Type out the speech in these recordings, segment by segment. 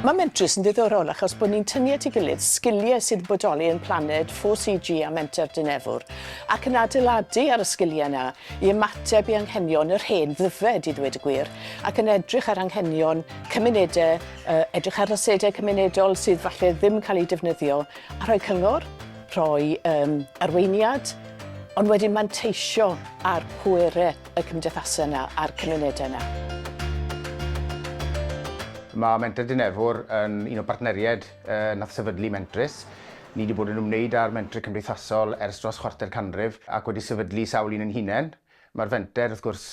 Mae Mentrus yn ddiddorol achos bod ni'n tynnu at ei gilydd sgiliau sydd yn bodoli yn Planed, 4CG a Menter Dinefwr, ac yn adeiladu ar y sgiliau yna i ymateb i anghenion yr hen ddyfed, i ddweud y gwir, ac yn edrych ar anghenion cymunedau, uh, edrych ar asedau cymunedol sydd falle ddim yn cael eu defnyddio, a rhoi cyngor, rhoi um, arweiniad, Ond wedyn manteisio ar pwerau y cymdeithasau yna a'r cymunedau yna. Mae Mentrau Dinefwr yn un o bartneriaid yy nath sefydlu Mentrus. Ni 'di bod yn ymwneud â'r mentrau cymdeithasol ers dros chwarter canrif ac wedi sefydlu sawl un ein hunain. Mae'r fenter, wrth gwrs,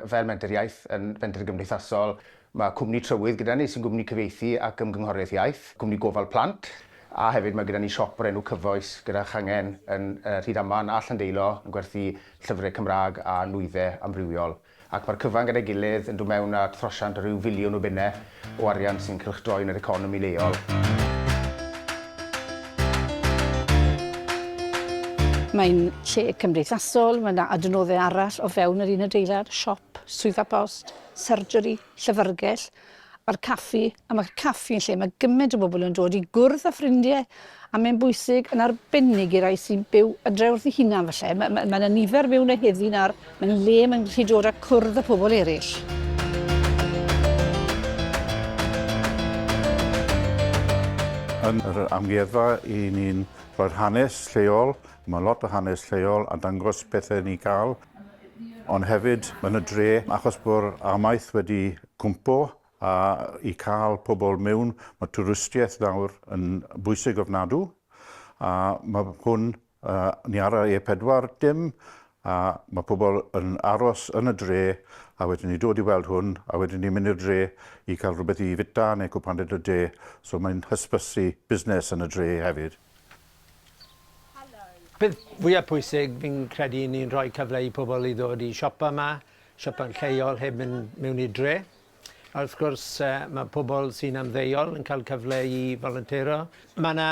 fel menter iaith, yn fenter gymdeithasol. Mae cwmni trywydd gyda ni sy'n gwmni cyfieithu ac ymgynghoriaeth iaith, cwmni gofal plant, a hefyd mae gyda ni siop o'r enw Cyfoes gyda changen yn Rhydaman a Llandeilo yn gwerthu llyfrau Cymraeg a nwyddau amrywiol. Ac mae'r cyfan gyda'i gilydd yn dod mewn â throsiant o ryw filiwn o bunnau o arian sy'n cylchdroi yn yr economi leol. Mae'n lle cymdeithasol, mae yna adnoddau arall o fewn yr un adeilad, siop, swyddfa post, surgery, llyfrgell a'r caffi. A mae'r caffi yn lle mae gymaint o bobl yn dod i gwrdd â ffrindiau A mae'n bwysig yn arbennig i rai sy'n byw adre wrth eu hunan falle. Mae, mae, mae yna nifer mewn y heddi na'r mae'n le mae'n gallu dod a cwrdd â pobl eraill. Yn yr amgueddfa, i ni'n rhoi'r hanes lleol, mae lot o hanes lleol a dangos pethau ni cael, ond hefyd yn y dre, achos bod amaeth wedi cwmpo a i cael pobl mewn, mae twristiaeth nawr yn bwysig ofnadw, a mae hwn, ni ar y E4 dim, a mae pobl yn aros yn y dre, a wedyn ni dod i weld hwn, a wedyn ni'n mynd i'r dre i cael rhywbeth i fwyta neu cwpan yn y de, so mae'n hysbysu busnes yn y dre hefyd. Peth fwya pwysig fi'n credu yw ni'n rhoi cyfle i pobl i ddod i siopa 'ma, siopa'n lleol heb mynd mewn i'r dre. A wrth gwrs, mae pobl sy'n ymddeol yn cael cyfle i folontero. Mae yna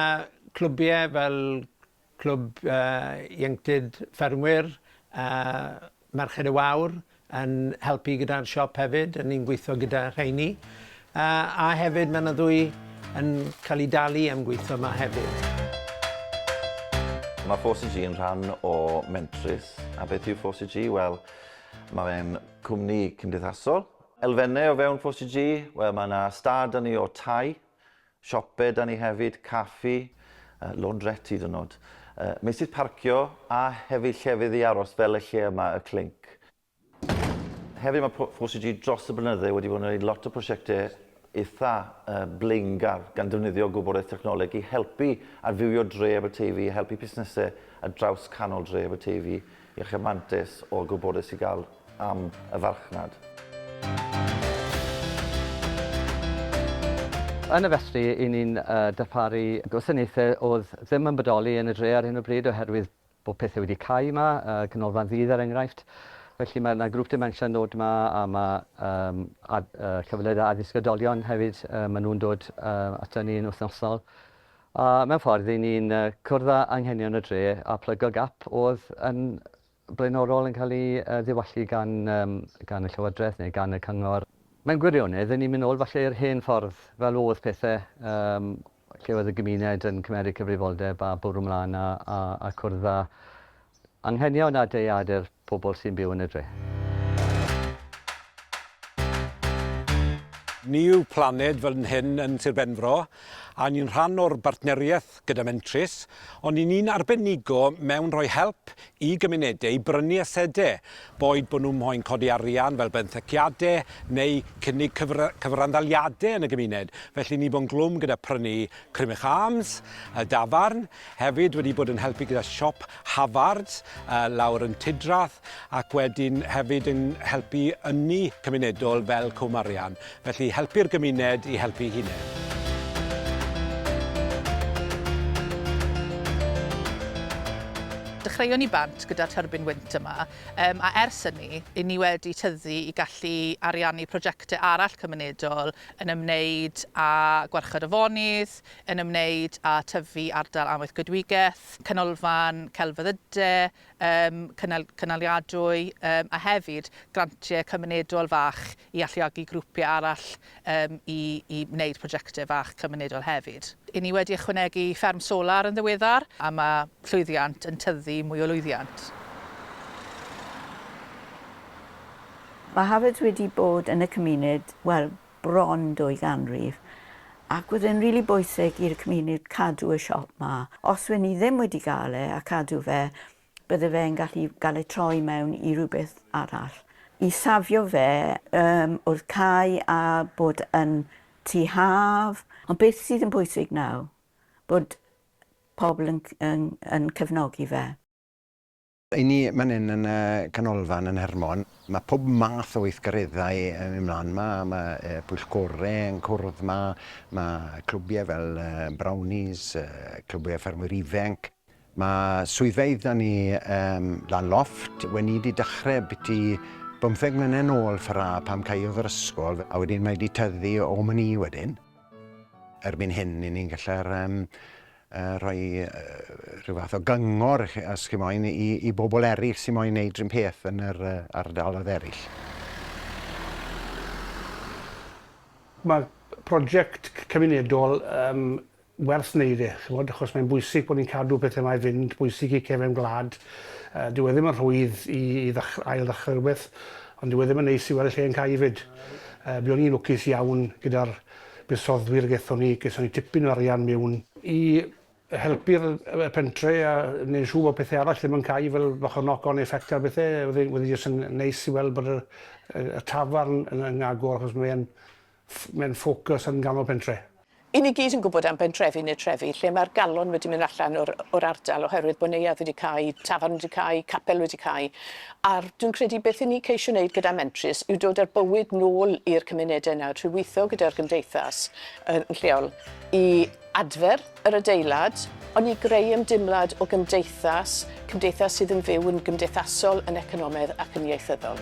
clwbiau fel Clwb Ieuenctid Ffermwyr a Merched y Wawr yn helpu gyda'r siop hefyd, a ni'n gweithio gyda rheini. A hefyd mae yna ddwy yn cael eu dalu am gweithio yma hefyd. Mae 4CG yn rhan o Mentrus. A beth yw 4CG? Wel, mae fe'n Cwmni cymdeithasol. Elfennau o fewn FOCG, wel mae 'na stad 'da ni o tai, siope 'da ni hefyd, caffi, laundrette hyd yn oed, meysydd parcio a hefyd llefydd i aros fel y lle yma, y Clink. Hefyd mae FOCG dros y blynydde wedi bod yn wneud lot o prosiectau eitha blaengar gan ddefnyddio gwybodaeth technoleg i helpu adfywio dre Aberteifi, i helpu busnesau ar draws canol dre Aberteifi i achub mantais o'r gwybodaeth sy'n gael am y farchnad. Yn y festri, i ni'n darparu gwasanaethau oedd ddim yn bodoli yn y dre ar hyn o bryd oherwydd Bod pethau wedi cau yma, yy Canolfan Ddydd er enghraifft. Felly mae yna grŵp dementia yn dod yma a ma' yym ad- yy cyfleoedd addysg oedolion hefyd yy ma' nhw'n dod yy ata ni yn wythnosol. A mewn ffordd ry'n ni'n yy cwrdd â anghenion y dre a plygo gap o'dd yn blaenorol yn cael ei yy ddiwallu gan yym gan y Llywodraeth neu gan y Cyngor. Mewn gwirionedd, ry'n ni'n mynd nôl falle i'r hen ffordd fel o'dd pethe yym lle oedd y gymuned yn cymeryd cyfrifoldeb a bwrw mlaen a a a cwrdd â anghenion a deiade'r pobl sy'n byw yn y dre. Ni yw Planed fel yn hŷn yn Sir Benfro a ni'n rhan o'r bartneriaeth gyda Mentrus ond 'yn ni'n arbenigo mewn rhoi help i gymunedau i brynu asedau, boed bod nhw'n moyn codi arian fel benthyciadau neu cynnig cyfr cyfranddaliadau yn y gymuned. Felly ni bo'n glwm gyda prynu Crymych Arms, y dafarn, hefyd wedi bod yn helpu gyda siop Havard uh, lawr yn Tudrath ac wedyn hefyd yn helpu ynni cymunedol fel Cwm Arian. Felly, helpu'r gymuned i helpu'i hunain. Dechreuon ni bant gyda'r tyrbin wynt yma, yym, a ers hynny, 'yn ni wedi tyfu i gallu ariannu prosiectau arall cymunedol yn ymwneud â Gwarchod Afonydd, yn ymwneud â tyfu ardal amaethcoedwigaeth, Canolfan Celfyddyde, yym, cynnal- cynaliadwy, yym, a hefyd grantiau cymunedol fach i alluogi grwpiau arall yym i i wneud projectau fach cymunedol hefyd. I ni wedi ychwanegu fferm solar yn ddiweddar a mae llwyddiant yn tyddu mwy o lwyddiant. Mae Harrods wedi bod yn y cymuned, wel, bron dwy ganrif, ac oedd e'n rili bwysig i'r cymuned cadw y siop 'ma. Os wen i ddim wedi gael e a cadw fe, bydde fe yn gallu gael ei troi mewn i rhywbeth arall. I safio fe um, wrth cae a bod yn tu haf. Ond beth sydd yn bwysig nawr? Bod pobl yn, yn, yn cefnogi fe. I ni man hyn yn y canolfan yn Hermon, mae pob math o weithgareddau yn mynd mlaen yma. Mae e, pwyllgorau yn cwrdd yma, mae clwbiau fel Brownies, clwbiau ffermwyr ifenc, Mae swyddfeydd da ni ym Mhlan Lofft weni'di dechrau biti bymtheg mlynedd nôl fra pam caeodd yr ysgol a wedyn mae 'di tyddu o myn i wedyn. Erbyn hyn i ni'n gallu yym yy rhoi yy rhyw fath o gyngor chi os chi moyn i i bobl eryll sy moyn neud run peth yn yr yy ardalodd eryll. Mae project cymunedol yym werth wneud e, ch'mod, achos mae'n bwysig bod ni'n cadw pethau 'ma i fynd, bwysig i cefn gwlad. Yy dyw e ddim yn rhwydd i i ddech- ail-ddechrau rhywbeth, ond dyw e ddim yn neis i weld y lle yn cau 'fyd. Yy buon ni'n lwcus iawn gyda'r buddsoddwyr a gethon ni, gethon ni tipyn o arian miwn, i helpu'r yy y pentre a neud yn siŵr bod pethe arall ddim yn cau fel bach o knock on effect ar bethe, wedd e wedd e jyst yn neis i weld bod y y y tafarn yn yn agor achos mae e'n Mae'n ffocws yn ganol pentre. Y'n ni gyd yn gwybod am bentrefi neu trefi lle mae'r galon wedi mynd allan o'r o'r ardal oherwydd bod neuadd wedi cau, tafarn wedi cau, capel wedi cau, a'r dwi'n credu beth y'n ni'n ceisio wneud gyda Mentrus yw dod â'r bywyd nôl i'r cymunedau nawr trwy weithio gyda'r gymdeithas yn lleol i adfer yr adeilad, ond i greu ymdeimlad o gymdeithas, cymdeithas sydd yn fyw, yn gymdeithasol, yn economaidd ac yn ieithyddol.